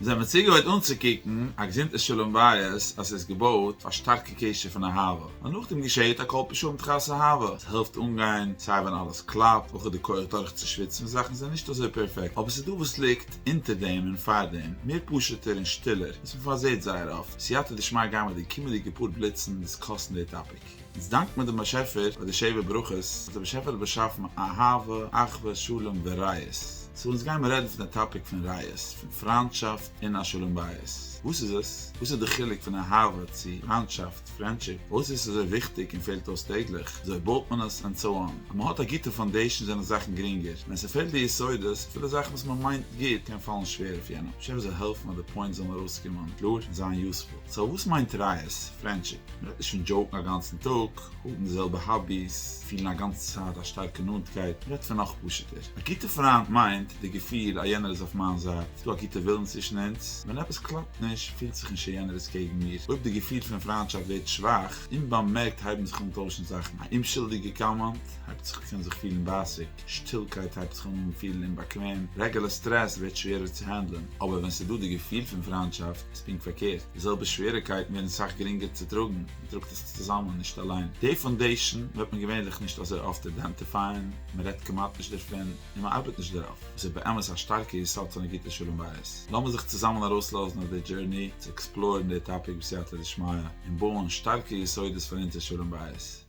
זיי האבן צוגעהויט אנצוקוקן א געזונטע שלום בית אז עס איז געבויט אויף א שטארקע קשר פון אהבה, און נאכדעם געשעהט א קול פשעים תחת אהבה, עס העלפט אנגיין סיי ווען אלעס קלאפט, אויך די כח דורכצושוויצן ווען זאכן זענען נישט אזוי פערפעקט, אבער עס איז דא וואס ליגט אונטער דעם און פאר דעם, מער פשוט'ער און שטילער, וואס מען פארזעהט זייער אפט, סייעתא דשמיא גיי מיט די קומענדיגע פאר בליצן דיסקאסן די טאפיק. אונז דאנקט מיר דעם באשעפער פאר די שבע ברכות וואס דער באשעפער האט באשאפן אהבה, אחווה, שלום, ורעות. סאו אונז גיימער רעדן פון די טאפיק פון רעות, פון פריינטשאפט און א שלום בית. וואס איז עס? וואס איז די חילוק פון אהבה צו פריינטשאפט, פרענדשיפ? פארוואס איז עס אזוי וויכטיג און פעלט אויס טעגליך? וויאזוי בויט מען עס? ענד סאו אן. ווען מען האט א גוטע פאונדעישאן זענען זאכן גרינגער. ווען ס'פעלט די יסודות, אפילו זאכן וואס מען מיינט גוט, קען פאלן שווער אויף יענעם. השי ת זאל העלפן אז די פוינטס זאלן ארויסקומען קלאר און זיין יוספול. סאו וואס מיינט רייעס? פרענדשיפ? מ'רעדט נישט פון דזשאוקן א גאנצן טאג, האבן די זעלבע האביס, פילן א גאנצע צייט א שטארקע נאנטקייט, מ'רעדט פון נאך פשוט'ער. א גוטע פריינט מיינט די געפיל אז יענער איז אויף מיין זייט, ס'דא א גוטע ווילן צווישן אונז, ווען עפעס קלאפט נישט פילט זיך נישט אז יענער איז קעגן מיר. אויב די געפיל פון פריינטשאפט ווערט שוואך, אומבאמערקט הייבן זיך אן טוישן זאכן, א אומשולדיגע קאמענט הייבט זיך אויף קען זיך פילן בייסיג, שטילקייט הייבט זיך אן פילן אומבאקוועם, רעגולער סטרעס ווערט שווערער צו האנדלען, אבער ווען ס'דא די געפיל פון פריינטשאפט איז פונקט פארקערט, די זעלבע שוועריקייטן ווערן סאך גרינגער צו טראגן, מען טראגט עס צוזאמען און נישט אליין. די פאונדעישאן וועט מען געווענליך נישט אזוי אפט אידענטיפייען, מען רעדט כמעט נישט דערפון, און מען ארבעט נישט דערויף, וואס איז באמת א שטארקע יסוד פון א גוטע שלום בית. לאמיר זיך צוזאמען ארויסלאזן אויף די דזשורני צו עקספלאורן די טאפיק בסייעתא דשמיא, און בויען שטארקע יסודות פאר אונזער שלום בית.